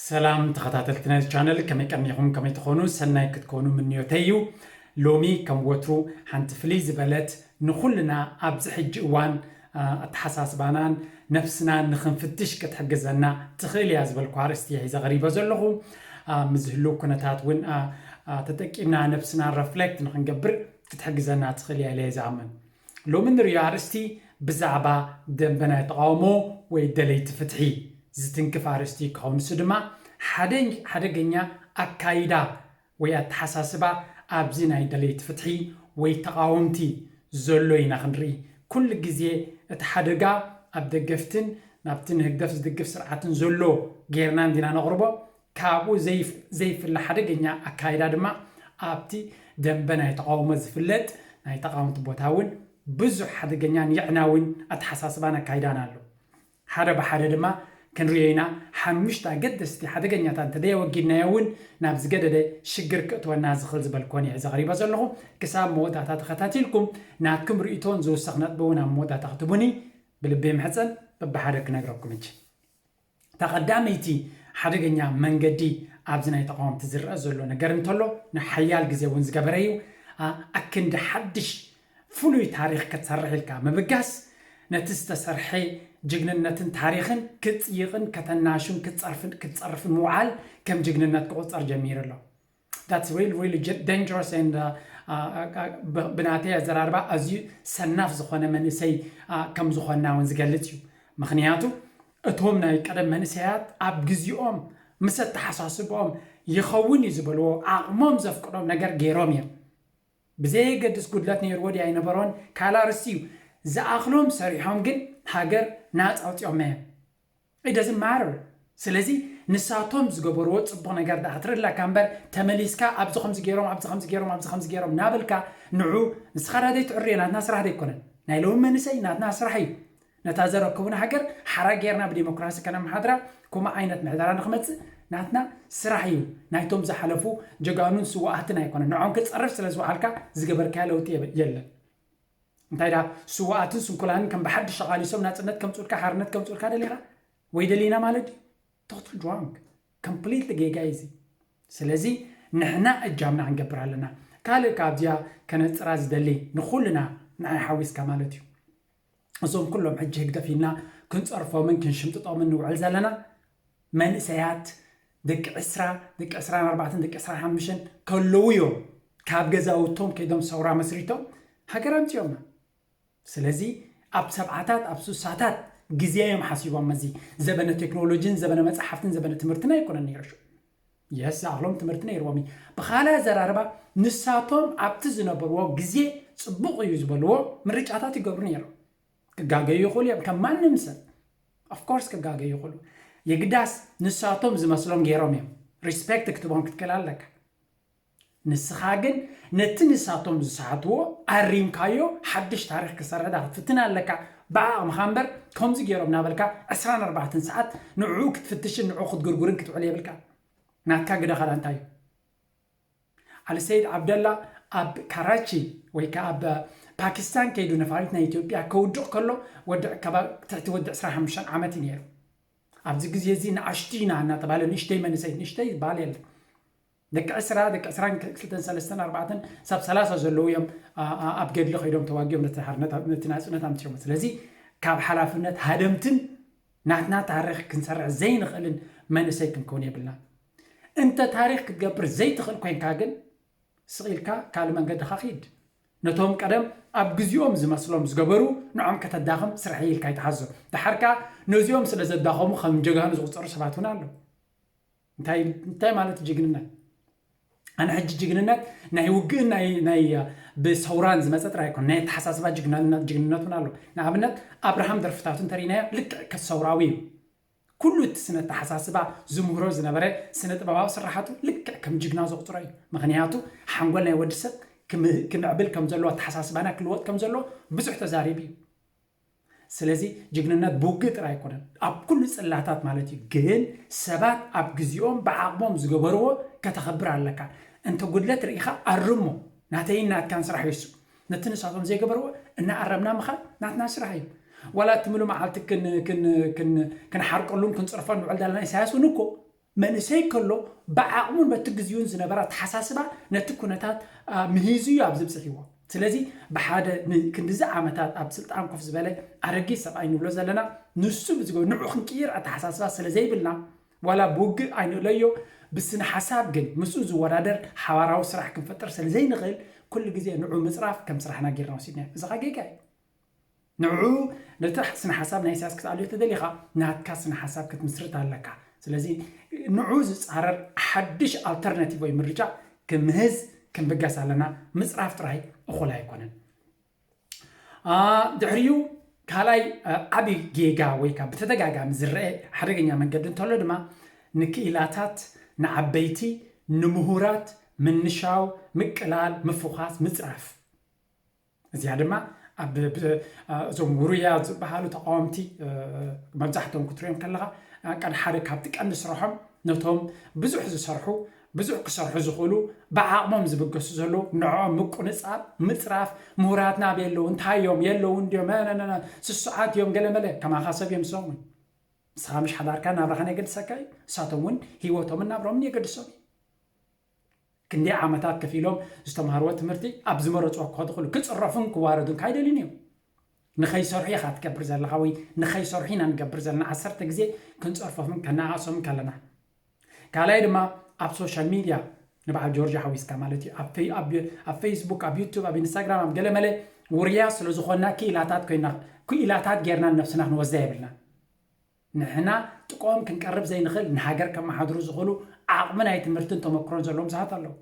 ሰላም ተኸታተልቲ ናይዚ ቻነል ከመይ ቀኒኹም ከመይ ትኾኑ ሰናይ ክትኮኑ ምንዮተይ እዩ ሎሚ ከም ወትሩ ሓንቲ ፍልይ ዝበለት ንኹልና ኣብዚ ሕጂ እዋን ኣተሓሳስባናን ነፍስናን ንክንፍትሽ ክትሕግዘና ትኽእል እያ ዝበልኩ ኣርእስቲ እየ ሒዘ ቀሪበ ዘለኹ ምስ ዝህልው ኩነታት እውን ተጠቂምና ነብስና ረፍሌክት ንክንገብር ክትሕግዘና ትኽእል እያ ኢለ ዝኣምን ሎሚ እንርእዮ ኣርእስቲ ብዛዕባ ደምበ ናይ ተቓውሞ ወይ ደለይቲ ፍትሒ ዝትንክፍ ኣርእስቲ ካብ ንሱ ድማ ሓደ ሓደገኛ ኣካይዳ ወይ ኣተሓሳስባ ኣብዚ ናይ ደለይቲ ፍትሒ ወይ ተቓወምቲ ዘሎ ኢና ክንርኢ ኩሉ ግዜ እቲ ሓደጋ ኣብ ደገፍትን ናብቲ ንህግደፍ ዝድግፍ ስርዓትን ዘሎ ጌርና እንዲና ነቕርቦ ካብኡ ዘይፍለ ሓደገኛ ኣካይዳ ድማ ኣብቲ ደምበ ናይ ተቓውሞ ዝፍለጥ ናይ ተቓወምቲ ቦታ እውን ብዙሕ ሓደገኛን የዕናዊን ኣተሓሳስባን ኣካይዳን ኣሎ። ሓደ ብሓደ ድማ ክንርእዮ ኢና፣ ሓሙሽተ ኣገደስቲ ሓደገኛታት እንተዘየወጊድናዮ እውን ናብ ዝገደደ ሽግር ክእትወና ዝኽል ዝበልኩዎን እየ ሕዚ ኣቕሪቦ ዘለኹ። ክሳብ መወዳእታ ተኸታቲልኩም ናትኩም ርእይቶን ዝውሰኽ ነጥቢ እውን ኣብ መወዳእታ ክትህቡኒ ብልቢ ይምሕጸን። በብሓደ ክነግረኩም እጅ። እታ ቀዳመይቲ ሓደገኛ መንገዲ ኣብዚ ናይ ተቓወምቲ ዝረኣ ዘሎ ነገር እንተሎ ንሓያል ግዜ እውን ዝገበረ እዩ፣ ኣክንዲ ሓድሽ ፍሉይ ታሪኽ ክትሰርሕ ኢልካ ምብጋስ ነቲ ዝተሰርሐ ጅግንነትን ታሪኽን ክጽይቕን ከተናሹን ክትጸርፍን ምውዓል ከም ጅግንነት ክቑጸር ጀሚሩ ኣሎ። That's really really j- dangerous and uh, uh, uh, ብ- ብናተይ ኣዘራርባ ኣዝዩ ሰናፍ ዝኾነ መንእሰይ uh, ከም ዝኾንና እውን ዝገልጽ እዩ ምክንያቱ እቶም ናይ ቀደም መንእሰያት ኣብ ግዜኦም ምስ ኣተሓሳስበኦም ይኸውን እዩ ዝበልዎ ዓቕሞም ዘፍቅዶም ነገር ገይሮም እዮም ብዘየገድስ ጉድለት ነይርዎ ድያ ኣይነበሮን ካልእ ኣርስቲ እዩ ዝኣኽሎም ሰሪሖም ግን ሃገር ናፃ ኣውፂኦማ እዮም It doesn't matter ስለዚ ንሳቶም ዝገበርዎ ጽቡቅ ነገር ድኣ ክትርኢ ኣለካ እምበር ተመሊስካ ኣብዚ ከምዚ ጌሮም ኣብዚ ከምዚ ጌሮም ኣብዚ ከምዚ ጌሮም ናበልካ ንዑ ንስካ ድኣ ዘይትዕርዮ ናትና ስራሕ ዶ ኣይኮነን ናይ ሎሚ መንእሰይ ናትና ስራሕ እዩ ነታ ዘረከቡና ሃገር ሓራ ጌርና ብዲሞክራሲ ከነመሓድራ ከምኡ ዓይነት ምሕደራ ንክመጽእ ናትና ስራሕ እዩ ናይቶም ዝሓለፉ ጀጋኑን ስዋኣትን ኣይኮነን ንዖም ክትጸርፍ ስለ ዝወዓልካ ዝገበርካዮ ለውጢ የለን እንታይ ድኣ ስውኣትን ስንኩላንን ከም ብሓድሽ ኣቓሊሶም ናጽነት ከምጽኡልካ ሓርነት ከምጽኡልካ ደሊኻ ወይ ደሊና ማለት ድዩ? ቶታል ድሮንግ ኮምፕሊትሊ ጌጋ እዩ እዚ። ስለዚ ንሕና እጃምና ክንገብር ኣለና። ካልእ ከኣ ኣብዚኣ ከነጽራ ዝደሊ ንኹልና ንዓይ ሓዊስካ ማለት እዩ እዞም ኩሎም ሕጂ ህግደፍ ኢልና ክንጸርፎምን ክንሽምጥጦምን ንውዕል ዘለና መንእሰያት ደቂ ዕስራ፣ ደቂ ዕስራን ኣርባዕተን፣ ደቂ ዕስራን ሓሙሽተን ከለዉ እዮም ካብ ገዛውቶም ከይዶም ሰውራ መስሪቶም ሃገር ኣምጺኦማ። ስለዚ ኣብ ሰብዓታት ኣብ ሱሳታት ግዜ እዮም ሓሲቦም እዚ ዘበነ ቴክኖሎጂን ዘበነ መጻሕፍትን ዘበነ ትምህርትን ኣይኮነን ነይሩ ሽዑ። የስ ዝኣኽሎም ትምህርቲ ነይርዎም እዩ። ብኻልእ ኣዘራርባ ንሳቶም ኣብቲ ዝነበርዎ ግዜ ጽቡቕ እዩ ዝበልዎ ምርጫታት ይገብሩ ነይሮም። ክጋገዩ ይኽእሉ እዮም ከም ማንም ሰብ of course ክጋገዩ ይኽእሉ የግዳስ ንሳቶም ዝመስሎም ገይሮም እዮም ሪስፔክት ክትቦም ክትክእል ኣለካ ንስኻ ግን ነቲ ንሳቶም ዝሰሓትዎ ኣሪምካዮ ሓድሽ ታሪክ ክሰረዳ ክትፍትን ኣለካ ብዓቕምኻ እምበር ከምዚ ገይሮም ናበልካ 24 ሰዓት ንዕኡ ክትፍትሽን ንዕኡ ክትግርጉርን ክትውዕል የብልካ ናትካ ግደ ካዳ እንታይ እዩ ዓሊ ሰይድ ዓብደላ ኣብ ካራቺ ወይ ከኣ ኣብ ፓኪስታን ከይዱ ነፋሪት ናይ ኢትዮጵያ ከውድቕ ከሎ ወዲ ዕከባ ትሕቲ ወዲ ዕስራን ሓሙሽተን ዓመት እዩ ነይሩ። ኣብዚ ግዜ እዚ ንኣሽቱ ኢና እናተባህለ ንእሽተይ መንእሰይ ንእሽተይ ዝበሃል የለን። ደቂ ዕስራ ደቂ ዕስራን ክልተን ሰለስተን ኣርባዕተን ሳብ ሰላሳ ዘለዉ እዮም ኣ- ኣብ ገድሊ ከይዶም ተዋጊኦም ነቲ ሓርነት ኣብ- ነቲ ናጽነት ኣምጺኦም ስለዚ ካብ ሓላፍነት ሃደምትን ናትና ታሪኽ ክንሰርሕ ዘይንኽእልን መንእሰይ ክንከውን የብልናን። እንተ ታሪኽ ክትገብር ዘይትኽእል ኮይንካ ግን ስቕ ኢልካ ካልእ መንገድኻ ኪድ። ነቶም ቀደም ኣብ ግዜኦም ዝመስሎም ዝገበሩ ንዖም ከተዳኽም ስርሐይ ኢልካ ኣይትሓዞም። ደሓር ከኣ ነዚኦም ስለ ዘዳኸሙ ከም ጀጋኑ ዝቑጸሩ ሰባት እውን ኣለዉ። እንታይ እንታይ ማለት ጅግንነት? ኣነ ሕጂ ጅግንነት ናይ ውግእን ናይ ናይ ብሰውራን ዝመጸ ጥራይ ኣይኮን ናይ ኣተሓሳስባ ጅግንነት ጅግንነት እውን ኣሎ። ንኣብነት ኣብርሃም ደርፍታቱ እንተርኢናዮ ልክዕ ሰውራዊ እዩ። ኩሉ እቲ ስነ ኣተሓሳስባ ዝምህሮ ዝነበረ ስነ ጥበባዊ ስርሓቱ ልክዕ ከም ጅግና ዘቑጽሮ እዩ። ምኽንያቱ ሓንጎል ናይ ወዲ ሰብ ክምዕብል ከም ዘለዎ ኣተሓሳስባና ክልወጥ ከም ዘለዎ ብዙሕ ተዛሪቡ እዩ። ስለዚ ጅግንነት ብውግእ ጥራይ ኣይኮነን ኣብ ኩሉ ጽላታት ማለት እዩ። ግን ሰባት ኣብ ግዜኦም ብዓቕሞም ዝገበርዎ ከተኽብር ኣለካ። እንተ ጉድለት ርኢኻ ኣርሞ። ናተይን ናትካን ስራሕ እዩ እሱ። ነቲ ንሳቶም ዘይገበርዎ እናኣረምና ምኻድ ናትና ስራሕ እዩ። ዋላ እቲ ምሉእ መዓልቲ ክንሓርቀሉን ክንጽርፎን ንውዕል ዘለና ኢሳያስ እውን እኮ መንእሰይ ከሎ ብዓቕሙን በቲ ግዚኡን ዝነበረ ኣተሓሳስባ ነቲ ኩነታት ምሂዙ እዩ ኣብዚ ብጽሒዎ። ስለዚ ብሓደ ንክንድዚ ዓመታት ኣብ ስልጣን ኮፍ ዝበለ ኣረጊት ሰብኣይ ንብሎ ዘለና ንሱ ብዝገ ንዑ ክንቅይር ኣተሓሳስባ ስለዘይብልና ዋላ ብውግእ ኣይንእለዮ፣ ብስነሓሳብ ግን ምስኡ ዝወዳደር ሓባራዊ ስራሕ ክንፈጥር ሰለዘይንኽእል ኩሉ ግዜ ንዑ ምጽራፍ ከም ስራሕና ጌርና ወሲድናዮ። እዚ ከኣ ጌጋ እዩ። ንዑ ነቲ ስነሓሳብ ናይ ኢሳያስ ክትኣልዮ ተደሊኻ ናትካ ስነሓሳብ ክትምስርት ኣለካ። ስለዚ ንዑ ዝጻረር ሓድሽ ኣልተርናቲቭ ወይ ምርጫ ክምህዝ ክንብገስ ኣለና። ምጽራፍ ጥራይ እኹል ኣይኮነን። ድሕሪኡ ካልኣይ ዓብዪ ጌጋ ወይ ከዓ ብተደጋጋሚ ዝረአ ሓደገኛ መንገዲ እንተሎ ድማ ንክኢላታት ንዓበይቲ ንምሁራት ምንሻው ምቅላል ምፍዃስ ምፅራፍ እዚኣ ድማ ኣብ እዞም ውሩያት ዝበሃሉ ተቃወምቲ መብዛሕትኦም ክትሪኦም ከለካ ቀድ ሓደ ካብቲ ቀንዲ ስርሖም ነቶም ብዙሕ ዝሰርሑ ብዙሕ ክሰርሑ ዝኽእሉ ብዓቕሞም ዝብገሱ ዘለዉ ንዕኦም ምቁንጻብ ምጽራፍ ምሁራትና ኣበይ ኣለዉ እንታይ እዮም የለውን ድዮም ነነነ ስሱዓት እዮም ገለመለ ከማኻ ሰብ እዮም ንሶም እውን ንስኻ ምሽ ሓዳርካ ናብራኻን የገድሰካ እዩ ንሳቶም እውን ሂወቶምን ናብሮምን የገድሶም እዩ ክንደይ ዓመታት ከፍ ኢሎም ዝተምሃርዎ ትምህርቲ ኣብ ዝመረፅዎ ክኸዱ ክሉ ክፅረፉን ክዋረዱን ካይደልዩን እዮም ንኸይሰርሑ ኢኻ ትገብር ዘለኻ ወይ ንኸይሰርሑ ኢና ንገብር ዘለና ዓሰርተ ግዜ ክንፀርፎምን ከነኣእሶምን ከለና ካልኣይ ድማ ኣብ ሶሻል ሚድያ ንበዓል ጆርጆ ሓዊስካ ማለት እዩ ኣብ ኣብ ፌስቡክ ኣብ ዩቱብ ኣብ ኢንስታግራም ኣብ ገለመለ ውርያት ስለ ዝኾንና ክኢላታት ኮይና ክኢላታት ጌርና ነብስና ክንወስዳ የብልናን ንሕና ጥቆኦም ክንቀርብ ዘይንኽእል ንሃገር ከመሓድሩ ዝኽእሉ ዓቕሚ ናይ ትምህርትን ተመክሮን ዘለዎም ሰባት ኣለዉ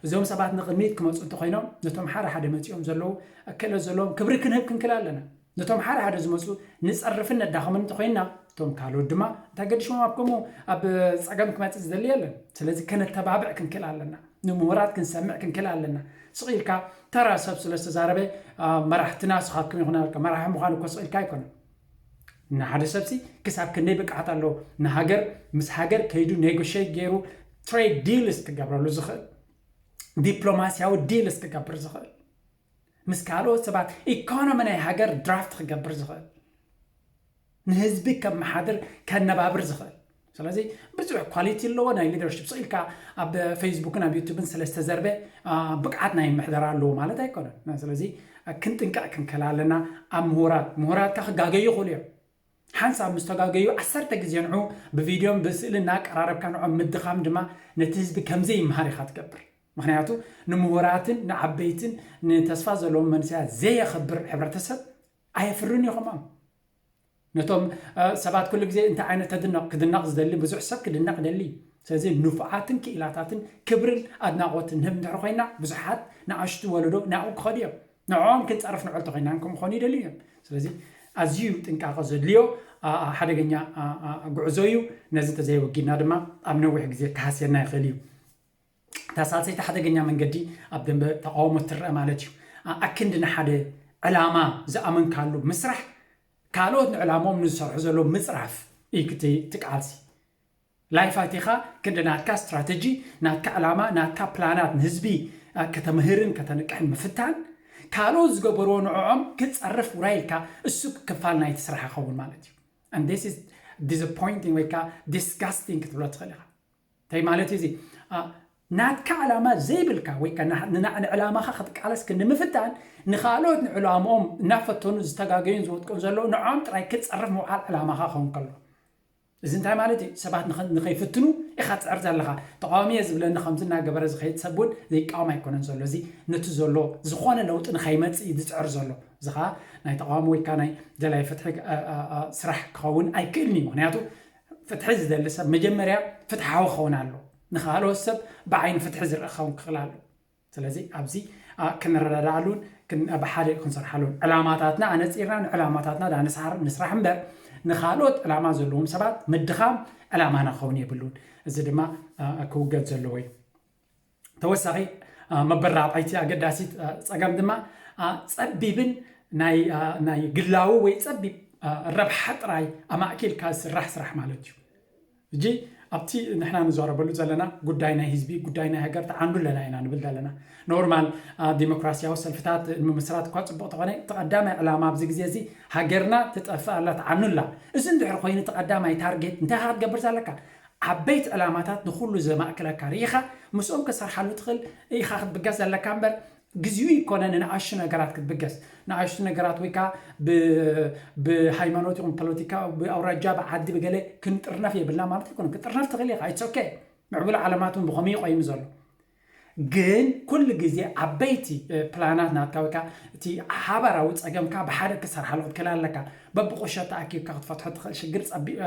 እዞም ሰባት ንቕድሚት ክመጹ እንተኾይኖም ነቶም ሓደ ሓደ መጺኦም ዘለዉ ክእለት ዘለዎም ክብሪ ክንህብ ክንክል ኣለና። ነቶም ሓደ ሓደ ዝመጹ ንጸርፍን ነዳኽምን እንተኾይንና እቶም ካልኦት ድማ እንታይ ገዲሾም ኣብ ከምኡ ኣብ ጸገም ክመጽእ ዝደሊ የለን። ስለዚ ከነተባብዕ ክንክል ኣለና። ንምሁራት ክንሰምዕ ክንክል ኣለና። ስቕ ኢልካ ተራ ሰብ ስለ ዝተዛረበ መራሕትና ስኻትኩም ኢኹም ናበልካ መራሒ ምዃን እኮ ስቕ ኢልካ ኣይኮነን። ንሓደ ሰብሲ ክሳብ ክንደይ ብቅዓት ኣለዎ ንሃገር ምስ ሃገር ከይዱ ኔጎሸት ጌሩ ትሬድ ዲልስ ክገብረሉ ዝኽእል ዲፕሎማስያዊ ዲልስ ክገብር ዝኽእል ምስ ካልኦት ሰባት ኢኮኖሚ ናይ ሃገር ድራፍት ክገብር ዝኽእል ንህዝቢ ከመሓድር ከነባብር ዝኽእል ስለዚ ብዙሕ ኳሊቲ ኣለዎ ናይ ሊደርሽፕ ስቕ ኢልካ ኣብ ፌስቡክን ኣብ ዩቱብን ስለ ዝተዘርበ ብቕዓት ናይ ምሕደራ ኣለዎ ማለት ኣይኮነን ስለዚ ክንጥንቀቕ ክንከል ኣለና ኣብ ምሁራት ምሁራትካ ክጋገዩ ይኽእሉ እዮም ሓንሳብ ምስ ተጋገዩ ዓሰርተ ግዜ ንዑ ብቪድዮን ብስእሊ እናቀራረብካ ንዖም ምድኻም ድማ ነቲ ህዝቢ ከምዘይ ይምሃር ኢኻ ትገብር ምክንያቱ ንምሁራትን ንዓበይትን ንተስፋ ዘለዎም መንስያት ዘየኽብር ሕብረተሰብ ኣየፍርን እዩ ከማም ነቶም ሰባት ኩሉ ግዜ እንታይ ዓይነት ተድንቕ? ክድነቕ ዝደሊ ብዙሕ ሰብ ክድነቕ ይደሊ እዩ። ስለዚ ንፉዓትን ክኢላታትን ክብርን ኣድናቖትን ንህብ እንድሕሪ ኮይና ብዙሓት ንኣሽቱ ወለዶ ናብኡ ክኸዱ እዮም። ንዕኦም ክንጸርፍ ንዑ እንተኾይናን ከምኡ ክኾኑ ይደልዩ እዮም። ስለዚ ኣዝዩ እዩ ጥንቃቐ ዘድልዮ ሓደገኛ ጉዕዞ እዩ። ነዚ እንተዘየወጊድና ድማ ኣብ ነዊሕ ግዜ ክሃስየና ይኽእል እዩ። እታ ሳልሰይቲ ሓደገኛ መንገዲ ኣብ ደንበ ተቓውሞ ትረኣ ማለት እዩ። ኣኣክንዲ ንሓደ ዕላማ ዝኣመንካሉ ምስራሕ ካልኦት ንዕላምኦም ንዝሰርሑ ዘለዉ ምጽራፍ እዩ ክቲ እቲ ቃልሲ። ላይፍ ኣቲኻ ክንዲ ናትካ ስትራተጂ፣ ናትካ ዕላማ፣ ናትካ ፕላናት ንህዝቢ ከተምህርን ከተንቅሕን ምፍታን፣ ካልኦት ዝገበርዎ ንዕዖም ክጸርፍ ውራይ ኢልካ እሱ ክፋል ናይቲ ስራሕ ይኸውን ማለት እዩ። And this is disappointing ወይ ከኣ disgusting ክትብሎ ትኽእል ኢኻ። እንታይ ማለት እዩ እዚ ናትካ ዕላማ ዘይብልካ ወይ ከኣ ንዕላማኻ ክትቃለስ ክንምፍታን ንኻልኦት ንዕላምኦም እናፈተኑ ዝተጋገዩን ዝወጥቀን ዘለዉ ንዖም ጥራይ ክትጸርፍ ምውዓል ዕላማኻ ክኸውን ከሎ እዚ እንታይ ማለት እዩ ሰባት ንኸይፍትኑ ኢኻ ትጽዕር ዘለኻ ተቃዋሚ እየ ዝብለኒ ከምዚ እናገበረ ዝኸይድ ሰብ እውን ዘይቃወም ኣይኮነን ዘሎ እዚ ነቲ ዘሎ ዝኾነ ለውጢ ንኸይመጽእ እዩ ዝጽዕር ዘሎ እዚ ከዓ ናይ ተቃዋሚ ወይ ከዓ ናይ ደላይ ፍትሒ ስራሕ ክኸውን ኣይክእልን እዩ ምክንያቱ ፍትሒ ዝደሊ ሰብ መጀመርያ ፍትሓዊ ክኸውን ኣለዎ። ንኻልኦት ሰብ ብዓይኒ ፍትሒ ዝርእ ክኸውን ክኽል ኣለዎ። ስለዚ ኣብዚ ክንረዳድኣሉን ብሓደ ክንሰርሓሉን ዕላማታትና ኣነጺርና ንዕላማታትና ድኣ ንስሓር ንስራሕ እምበር ንኻልኦት ዕላማ ዘለዎም ሰባት ምድኻም ዕላማና ክኸውን የብሉን። እዚ ድማ ክውገድ ዘለዎ እዩ። ተወሳኺ መበል ራብዓይቲ ኣገዳሲት ፀገም ድማ ፀቢብን ናይ ግላዊ ወይ ፀቢብ ረብሓ ጥራይ ኣማእኪልካ ዝስራሕ ስራሕ ማለት እዩ እጂ ኣብቲ ንሕና ንዛረበሉ ዘለና ጉዳይ ናይ ህዝቢ ጉዳይ ናይ ሃገር ተዓንዱ ኣለና ኢና ንብል ዘለና ኖርማል ዲሞክራሲያዊ ሰልፍታት ንምምስራት እኳ ፅቡቅ ተኾነ እቲ ቀዳማይ ዕላማ ኣብዚ ግዜ እዚ ሃገርና ትጠፍእ ኣላ ተዓኑ ኣላ እዚ እንድሕር ኮይኑ እቲ ቀዳማይ ታርጌት እንታይ ክትገብር ዘለካ ዓበይቲ ዕላማታት ንኹሉ ዘማእክለካ ርኢኻ ምስኦም ክትሰርሓሉ ትኽእል ኢኻ ክትብገስ ዘለካ እምበር ግዚኡ ኣይኮነ ንንኣሽቱ ነገራት ክትብገስ ንኣሽቱ ነገራት ወይ ከኣ ብ ብሃይማኖት ይኹን ፖለቲካ ብኣውራጃ ብዓዲ ብገለ ክንጥርነፍ የብልና ማለት ኣይኮነን ክትጥርነፍ ትኽእል ኢኻ ኢትስ ኦኬ ምዕቡል ዓለማት ውን ብኸምኡ እዩ ቆይሙ ዘሎ ግን ኩሉ ግዜ ዓበይቲ ፕላናት ናትካ ወይ ከኣ እቲ ሓባራዊ ጸገምካ ብሓደ ክትሰርሓሉ ክትክእል ኣለካ። በብቁሸት ተኣኪብካ ክትፈትሖ ትኽእል ሽግር ጸቢብ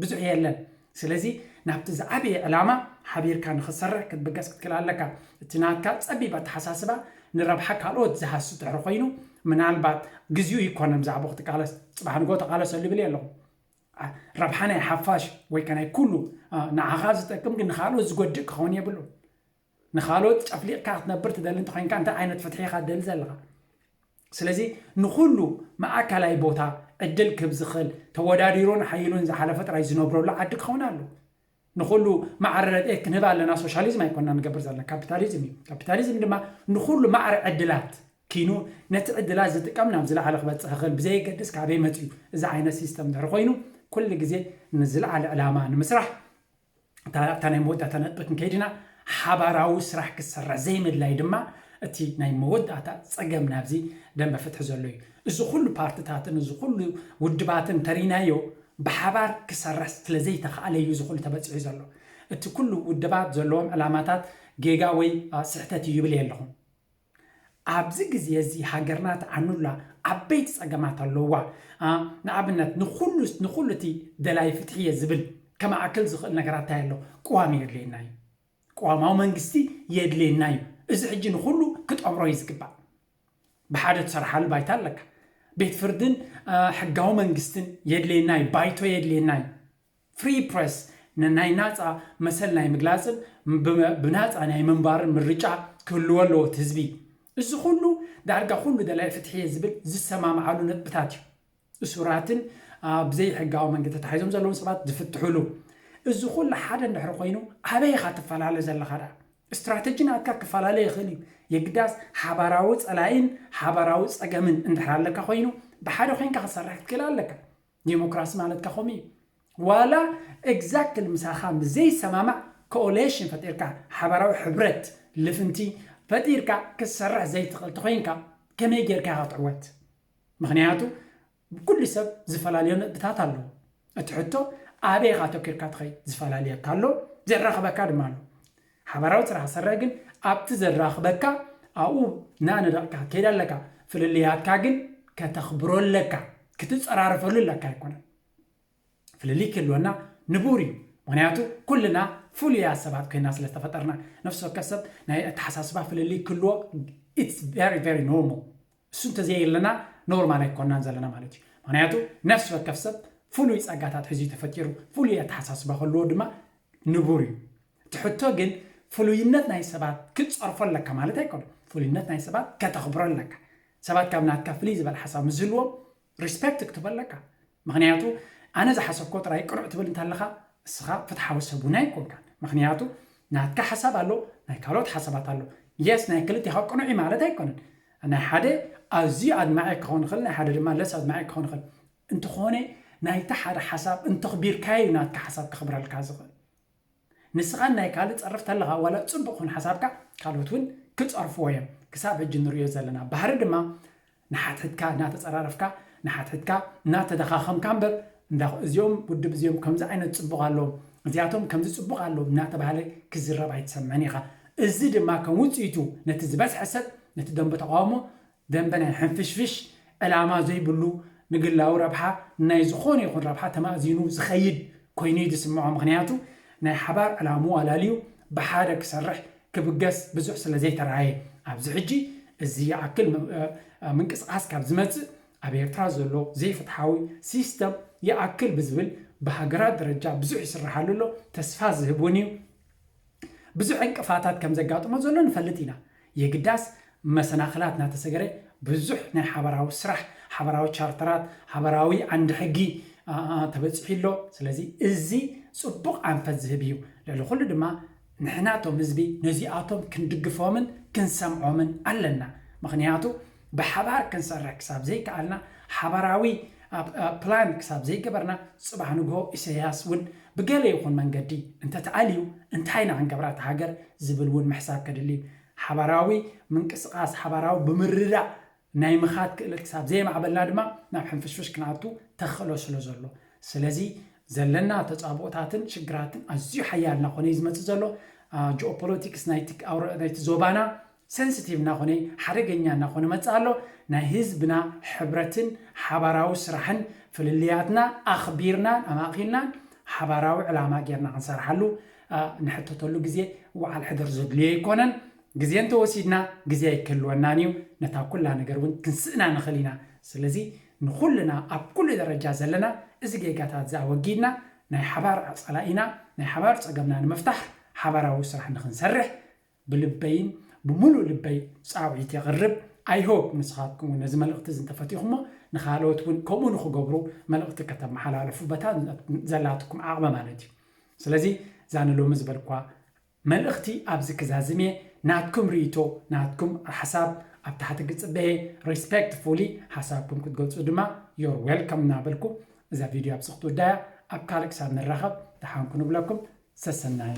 ብዙሕ የለን። ስለዚ ናብቲ ዝዓበየ ዕላማ ሓቢርካ ንኽትሰርሕ ክትብገስ ክትክእል ኣለካ። እቲ ናትካ ጸቢብ ኣተሓሳስባ ንረብሓ ካልኦት ዝሃሲ ድሕሪ ኮይኑ ምናልባት ግዚኡ ኣይኮነን ብዛዕብኡ ክትቃለስ። ጽባሕ ንግሆ ተቓለሰሉ ይብል የለኹን። ረብሓ ናይ ሓፋሽ ወይ ከ ናይ ኩሉ ንዓኻ ዝጠቅም ግን ንኻልኦት ዝጎድእ ክኸውን የብሉን። ንኻልኦት ጨፍሊቕካ ክትነብር ትደሊ እንተኾይንካ እንታይ ዓይነት ፍትሒ ኢኻ ትደሊ ዘለኻ? ስለዚ ንኹሉ ማእከላይ ቦታ ዕድል ክህብ ዝኽእል ተወዳዲሩን ሓይሉን ዝሓለፈ ጥራይ ዝነብረሉ ዓዲ ክኸውን ኣለዎ። ንኹሉ ማዕረ ረድኤት ክንህብ ኣለና ሶሻሊዝም ኣይኮናን ንገብር ዘለና ካፒታሊዝም እዩ። ካፒታሊዝም ድማ ንኹሉ ማዕረ ዕድላት ኪኑ ነቲ ዕድላት ዝጥቀም ናብ ዝለዓለ ክበጽሕ ይኽእል ብዘየገድስ ካበይ መጺኡ እዚ ዓይነት ሲስተም ድሕሪ ኮይኑ ኩሉ ግዜ ንዝለዓለ ዕላማ ንምስራሕ እታ ኣብታ ናይ መወዳእታ ነጥቢ ክንከይድ ኢና ሓባራዊ ስራሕ ክሰርሕ ዘይምድላይ ድማ እቲ ናይ መወዳእታ ጸገም ናብዚ ደንበ ፍትሒ ዘሎ እዩ። እዚ ኹሉ ፓርትታትን እዚ ኹሉ ውድባትን ተሪናዮ ብሓባር ክሰርሕ ስለዘይተኻእለ እዩ እዚ ኹሉ ተበፂሑ ዘሎ። እቲ ኩሉ ውድባት ዘለዎም ዕላማታት ጌጋ ወይ ስሕተት እዩ ይብል የለኹን። ኣብዚ ግዜ እዚ ሃገርና ትዓኑላ ዓበይቲ ፀገማት ኣለዉዋ። ንኣብነት ንኹሉ ንኹሉ እቲ ደላይ ፍትሒ እየ ዝብል ከማዕክል ዝኽእል ነገራት እንታይ ኣሎ? ቅዋም የድልየና እዩ። ቅዋማዊ መንግስቲ የድልየና እዩ። እዚ ሕጂ ንኹሉ ክጠምሮ እዩ ዝግባእ። ብሓደ ትሰርሓሉ ባይታ ኣለካ። ቤት ፍርድን ሕጋዊ መንግስትን የድልየና እዩ፣ ባይቶ የድልየና እዩ። ፍሪ ፕረስ ንናይ ናጻ መሰል ናይ ምግላጽን ብናጻ ናይ ምንባርን ምርጫ ክህልዎ ኣለዎ እቲ ህዝቢ። እዚ ኩሉ ዳርጋ ኩሉ ደላይ ፍትሒ'የ ዝብል ዝሰማምዓሉ ነጥብታት እዩ። እሱራትን ብዘይሕጋዊ መንገዲ ተታሒዞም ዘለዉን ሰባት ዝፍትሑሉ። እዚ ኩሉ ሓደ እንድሕሪ ኮይኑ ኣበይ ኢኻ ትፈላለ ዘለኻ ደኣ? ስትራተጂ ናትካ ክፈላለ ይኽእል እዩ፣ የግዳስ ሓባራዊ ጸላኢን ሓባራዊ ጸገምን እንድሕር ኣለካ ኮይኑ ብሓደ ኮይንካ ክትሰርሕ ክትክእል ኣለካ። ዲሞክራሲ ማለት ከ ከምኡ እዩ። ዋላ ኤግዛክትሊ ምሳኻ ምስ ዘይሰማማዕ ኮኦሌሽን ፈጢርካ ሓባራዊ ሕብረት ልፍንቲ ፈጢርካ ክትሰርሕ ዘይትኽእል ተኾይንካ ከመይ ጌርካ ኢኻ ክትዕወት? ምኽንያቱ ኩሉ ሰብ ዝፈላልዮ ነጥብታት ኣለዎ። እቲ ሕቶ ኣበይ ኢኻ ኣተኲርካ ትኸይድ? ዝፈላልየካ ኣሎ፣ ዘራኽበካ ድማ ኣሎ። ሓባራዊ ስራሕ ሰረ ግን ኣብቲ ዘራኽበካ ኣብኡ እናነደቕካ ትኸይድ ኣለካ። ፍልልያትካ ግን ከተኽብሮ ኣለካ፣ ክትጸራረፈሉ ኣለካ ኣይኮነን። ፍልልይ ክህልወና ንቡር እዩ ምክንያቱ ኩልና ፍሉያት ሰባት ኮይና ስለ ዝተፈጠርና ነፍሲ ወከፍ ሰብ ናይ ኣተሓሳስባ ፍልልይ ክህልዎ ኢትስ ቨሪ ቨሪ ኖርማል እሱ እንተዘየለና ኖርማል ኣይኮናን ዘለና ማለት እዩ ምክንያቱ ነፍሲ ወከፍ ሰብ ፍሉይ ጸጋታት ሕዚ ተፈጢሩ ፍሉይ ኣተሓሳስባ ከልዎ ድማ ንቡር እዩ እቲ ሕቶ ግን ፍሉይነት ናይ ሰባት ክትጸርፎ ኣለካ ማለት ኣይኮነ ፍሉይነት ናይ ሰባት ከተኽብሮ ኣለካ ሰባት ካብ ናትካ ፍልይ ዝበለ ሓሳብ ምስዝህልዎም ሪስፐክት ክትብ ኣለካ ምክንያቱ ኣነ ዝሓሰብኮ ጥራይ ቅኑዕ ትብል እንተለካ እስካ ፍትሓዊ ሰብ ውን ኣይኮንካን ምክንያቱ ናትካ ሓሳብ ኣሎ ናይ ካልኦት ሓሳባት ኣሎ የስ ናይ ክልቴካ ቅኑዕ እዩ ማለት ኣይኮነን ናይ ሓደ ኣዝዩ ኣድማዒ ክኮን ይክእል ናይ ሓደ ድማ ለስ ኣድማዒ ክኮን ይክእል እንተኮነ ናይቲ ሓደ ሓሳብ እንተክቢርካዮ እዩ ናትካ ሓሳብ ከክብረልካ ዝክእል ንስኻን ናይ ካልእ ጸርፍ ተለኻ ዋላ ጽቡቅ ኹን ሓሳብካ ካልኦት ውን ክጸርፍዎ ዮም ክሳብ ሕጂ ንርእዮ ዘለና ባህሪ ድማ ንሓትሕትካ እናተጸራረፍካ ንሓትሕትካ እናተዳኻኸምካ እምበር እንዳ እዚኦም ውድብ እዚኦም ከምዚ ዓይነት ጽቡቅ ኣለዎም እዚኣቶም ከምዚ ጽቡቅ ኣለዎም እናተባህለ ክዝረብ ኣይትሰምዕን ኢኻ እዚ ድማ ከም ውጽኢቱ ነቲ ዝበዝሐ ሰብ ነቲ ደንበ ተቃውሞ ደንበ ናይ ሕንፍሽፍሽ ዕላማ ዘይብሉ ንግላዊ ረብሓ ንናይ ዝኾነ ይኹን ረብሓ ተማእዚኑ ዝኸይድ ኮይኑ እዩ ዝስምዖ ምኽንያቱ ናይ ሓባር ዕላምኡ ኣላልዩ ብሓደ ክሰርሕ ክብገስ ብዙሕ ስለ ዘይተርኣየ ኣብዚ ሕጂ እዚ ይኣክል ምንቅስቓስ ካብ ዝመጽእ ኣብ ኤርትራ ዘሎ ዘይፍትሓዊ ሲስተም ይኣክል ብዝብል ብሃገራት ደረጃ ብዙሕ ይስርሓሉ ኣሎ ተስፋ ዝህብ ውን እዩ። ብዙሕ ዕንቅፋታት ከም ዘጋጥሞ ዘሎ ንፈልጥ ኢና። የግዳስ መሰናኽላት እናተሰገረ ብዙሕ ናይ ሓባራዊ ስራሕ፣ ሓባራዊ ቻርተራት፣ ሓባራዊ ዓንዲ ሕጊ ተበጺሑ ኣሎ። ስለዚ እዚ ጽቡቕ ኣንፈት ዝህብ እዩ። ልዕሊ ኩሉ ድማ ንሕና እቶም ህዝቢ ነዚኣቶም ክንድግፎምን ክንሰምዖምን ኣለና። ምኽንያቱ ብሓባር ክንሰርሕ ክሳብ ዘይከኣልና፣ ሓባራዊ ፕላን ክሳብ ዘይገበርና፣ ጽባሕ ንግሆ ኢሰያስ ውን ብገለ ይኹን መንገዲ እንተተኣልዩ እንታይ ኢና ክንገብራ እታ ሃገር ዝብል ውን ምሕሳብ ከድሊ እዩ። ሓባራዊ ምንቅስቓስ፣ ሓባራዊ ብምርዳእ ናይ ምኻድ ክእለት ክሳብ ዘየማዕበልና ድማ ናብ ሕንፍሽፍሽ ክንኣቱ ተኽእሎ ስለ ዘሎ። ስለዚ ዘለና ተጻብኦታትን ሽግራትን ኣዝዩ ሓያል እናኾነ እዩ ዝመጽእ ዘሎ። ጂኦፖለቲክስ ናይቲ ዞባና ሰንስቲቭ ናኾነ ሓደገኛ ናኾነ መጽእ ኣሎ ናይ ህዝብና ሕብረትን ሓባራዊ ስራሕን ፍልልያትና ኣኽቢርናን ኣማእኪልናን ሓባራዊ ዕላማ ጌርና ክንሰርሓሉ ንሕተተሉ ግዜ ውዓል ሕደር ዘድልዮ ኣይኮነን ግዜ እንተወሲድና ግዜ ኣይክህልወናን እዩ ነታ ኩላ ነገር እውን ክንስእና ንኽእል ኢና ስለዚ ንኹልና ኣብ ኩሉ ደረጃ ዘለና እዚ ጌጋታት እዚ ኣወጊድና ናይ ሓባር ጸላኢና ናይ ሓባር ጸገምና ንምፍታሕ ሓባራዊ ስራሕ ንኽንሰርሕ ብልበይን ብምሉእ ልበይ ጻውዒት የቕርብ። I hope ንስኻትኩም ውን ነዚ መልእኽቲ እዚ እንተፈቲኹሞ ንኻልኦት ውን ከምኡ ንኽገብሩ መልእኽቲ ከተመሓላልፉ በታ ዘላትኩም ዓቕሚ ማለት እዩ። ስለዚ እዛ ንሎሚ ዝበልክዋ መልእኽቲ ኣብዚ ክዛዝም እየ። ናትኩም ርእይቶ ናትኩም ሓሳብ ኣብ ታሕቲ ክጽበ እየ። Respectfully ሓሳብኩም ክትገልጹ ድማ You're welcome እናበልኩ እዛ ቪድዮ ኣብዚ ክትውዳእ እያ። ኣብ ካልእ ክሳብ ንራኸብ ደሓን ኩኑ እብለኩም። ሰሰናዩ።